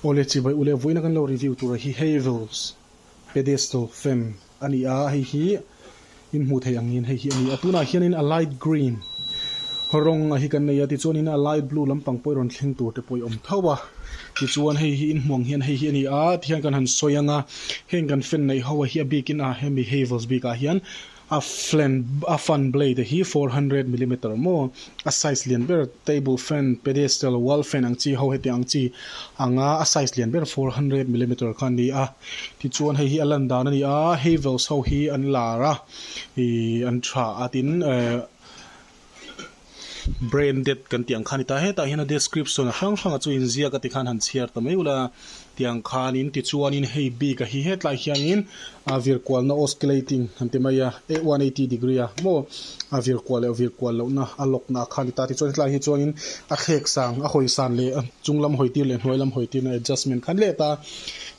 Aw le, chibai u le, vawiina kan lo review tura hi Havells Pedestal Femme a ni a, hei hi in hmuh theih angin hei hi a ni a, tunah hianin a light green rawng a hi kan nei a, tichuanin a light blue lampang pawh i rawn thleng tur te pawh i awm tho a, tichuan hei hi in hmuh ang hian hei hi a ni a, tihian kan han sawi anga heng kan fan neih ho a hi a bikin a hemi Havells bikah hian A flan a fan blade hi four hundred millimeter maw, a size lian ber table fan, pedestal, wall fan ang chi ho hetiang ang chi ang a, a size lian ber four hundred millimeter kha a ni a. Tichuan hei hi a lan dan a ni a, Havels ho hi an lar a, ih an tha a tin eh Brain dead kan tih ang khan i ta hetah hian a description hrang hranga chu inziak a ti khan han chhiar ta mai ula tiang khanin tichuanin hei bik a hi hetlai hianin a vir kualna oscillating han ti mai a one hundred and eighty degree a maw a vir kual leh vir kual lohna a lockna a khan i ta tichuan hetlai hi chuanin a thlek sang a hawi san leh chung lam hawi tir leh hnuai lam hawi tirna adjustment khan let a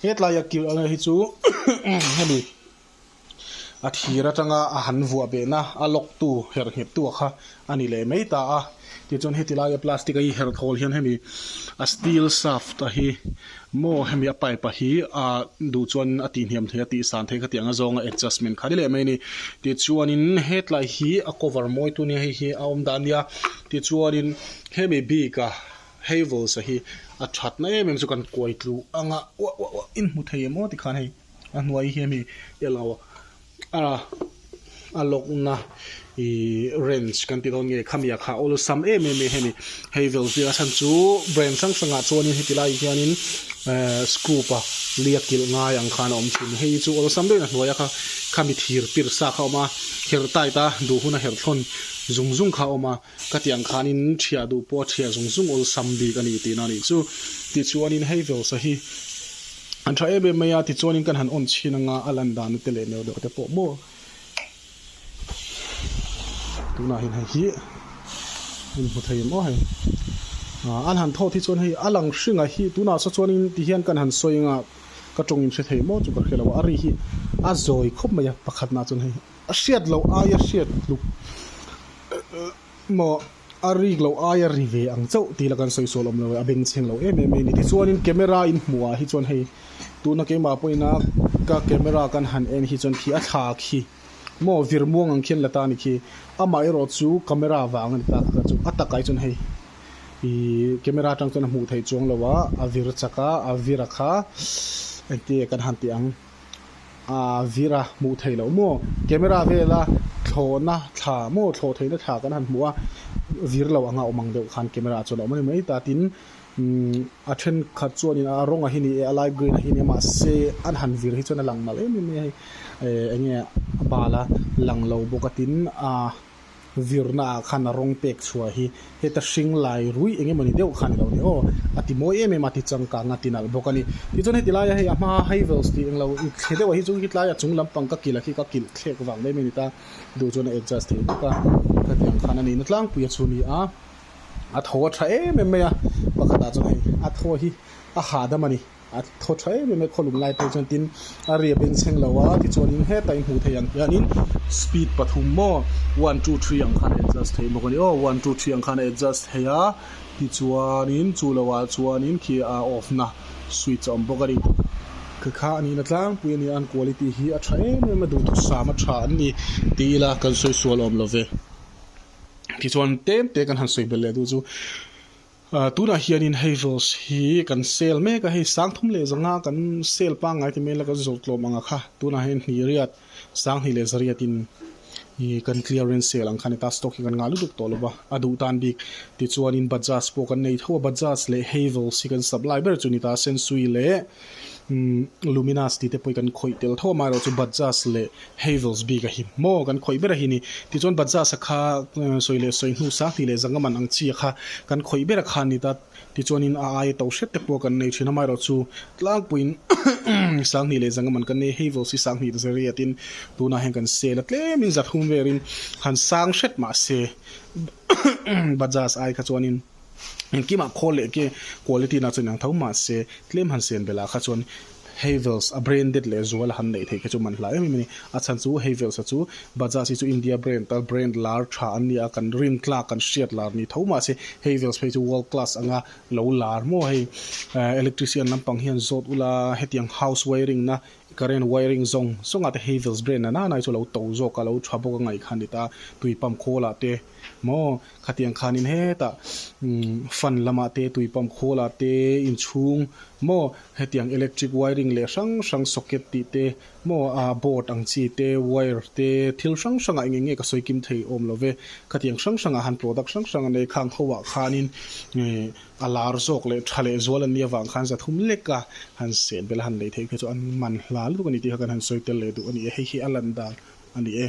hetlai a kir a hi chu hemi a thir atanga a han vuah behna a lawktu herhngheptuah kha a ni leh mai ta a, tichuan heti laia plastic a iher thawl hian hemi a steel shaft a hi maw hemi a pipe a hi a duh chuan a tihniam thei a tih san thei kha ti ang a zawnga adjustment kha ni leh mai a ni tichuanin hetlai hi a cover mawi tu nia hei hi a awm dan nia tichuanin hemi bika havels a hi a thatna em em chu kan kuai tlu ang a uah uah uah in hmu thei emaw tikhan hei. A hnuai hi hemi i lo a, a a lawkna ih range kan tih dawn nge, khami ah kha awlsam em em mai hemi. Hei vel zia chhan chu brand hrang hrang ah chuan heti lai hianin eh scoop a liak kilh ngai ang khan a awm thin. Hei chu awlsam deuhin a hnuai a kha khami thir pirsa kha a awm a, kher tight a duh hun a herh thlawn zung zung kha a awm a. Ka tiang khanin ṭhiah duh pawha ṭhiah zung zung awl sam bik a ni tihna a nih chu. Tichuanin hei velsa hi a ṭha em em mai a, tichuanin kan han awn chhin anga a lan dan nate leh neu deuh te pawh maw? Tunahin hei hi min hmu thei em aw hei. A han thawt hi chuan hei a lang hringa hi tunah saw chuanin ti hian kan han sawi anga ka ṭawngin hre thei maw chu ka hre lo a. A ri hi a zawi khawp mai a, pakhatnaah chuan hei. A hriat loh aia hriat tluk maw a rik loh aia ri ve ang chauh tih ila kan sawi sual awm lo e, a beng chheng lo em em mai a ni. Tichuanin camera in hmuh ah hi chuan hei tuna keimah pawh ina ka camera kan han en hi chuan khi a thla khi maw vir muang ang khian la ta ni khi amah erawh chu camera vang a ni ta ka kal chu a takah hi chuan hei ih camera atang chuan a hmuh theih chuang lo a a vir chak a a vir a kha engti nge kan han tih ang. aa zir a hmuh theih loh maw camera vela thlawhna thla maw thlawh theihna thla kan han hmuh a zir lo anga awm ang deuh khan camera ah chuan a awm a ni mai ta tin umm a then khat chuanin a rawng a hi ni e a light green a hi ni e mahse an han zir hi chuan a lang mal em em mai a hei ehh enge a bala lang lo bawk a tin aa-- Zirnaah khan a rawng pek chhuah hi heta hring lai rui eng emawni deuh kha a ni lo ni aw, a ti mawi em em a ti changkang a ti nalh bawk a ni. Tichuan heti laia hei a hmaa Havels tih englo i thli deuh a hi chu hitlaia chung lampang ka kilh a khi ka kilh thlek vang mai mai a ni ta, duh chuan a adjust thei bawk a, ka tiang khan a nihna tlangpui a chu ni a, a tho a tha em em mai a, pakhatah chuan hei a thaw hi a hahdam a ni. a thaw tha em em mai khaw lum lai pawh chuan tin a ria beng chheng lo a tichuan in heta in hmuh theih ang hian in speed pathum maw one two three ang khan a adjust theih bawk a ni aw one two three ang khan a adjust theih a tichuan in chu lo ah chuan in khi a off na switch a awm bawk a ni khi kha a nih na tlangpui a ni an quality hi a tha em em a duh thusam a tha an ni tih ila kan sawi sual awm lo ve tichuan tem te kan han sawi bel leh duh chu Tunah hianin hei rules hi kan sell mek a, hei sang thum leh zanga kan sell pangngai ti mai ila kan zawrh tlawm anga kha tunah hian hnihriat, sang hnih leh zariatin kan clearance sell ang kha ni ta, stock hi kan ngah lutuk tawh lova, a duh tan bik. Tichuanin Bajaj pawh kan nei tho a, Bajaj leh hei rules hi kan sap lai ber chu ni ta, Sensui leh. Luminas tih te pawh i kan khawih tel tho a, amaherawh chu Bajaj leh Havells bik a hi maw? Kan khawih ber a hi ni. Tichuan Bajaj a kha sawi leh sawi hnu sang hnih leh zanga man ang chi a kha kan khawih ber a kha a ni ta. Tichuanin a aia to hriat te pawh a kan nei thin a, amaherawh chu tlangpuiin sang hnih leh zanga man kan nei a, Havells hi sang hnih ta zariatin tunah hian kan sale a, tlemin zathum verin han sang hret mahse Bajaj ai kha chuanin. Engkimah khawl leh quality na chu a inang tho mahse tlem han siam belah kha chuan Havells a branded leh zual a han neih theih kha chu man hla em em a ni. A chhan chu Havells a chu Bajaj hi chu India brand a brand lar tha an nia kan rin tlak kan hriat lar ni tho mahse Havells phei chu world class anga lo lar maw hei electrician lampang hian zawt ula hetiang house wiring na Current wiring zawng zawngah te Havells brand a nana hi chu a lo to zawk a, a lo tha bawk a ngaihkhan ni ta, tui pump khawlah te maw, khatiang khanin hetah umm fan lamah te, tui pump khawlah te inchhung maw, hetiang electric wiring leh hrang hrang socket tih te maw a board ang chi te, wire te, thil hrang hrangah eng eng nge ka sawi kim thei awm lo ve, khatiang hrang hrangah han product hrang hrang a nei, khang ho ah khanin ehh. A lar zawk leh tha leh zual an nih avang khan zathum leka han seh bel a han lei theih kha chu an man hla lutuk a ni tih kha kan han sawi tel leh duh a ni e. Hei hi a lan dan a ni e.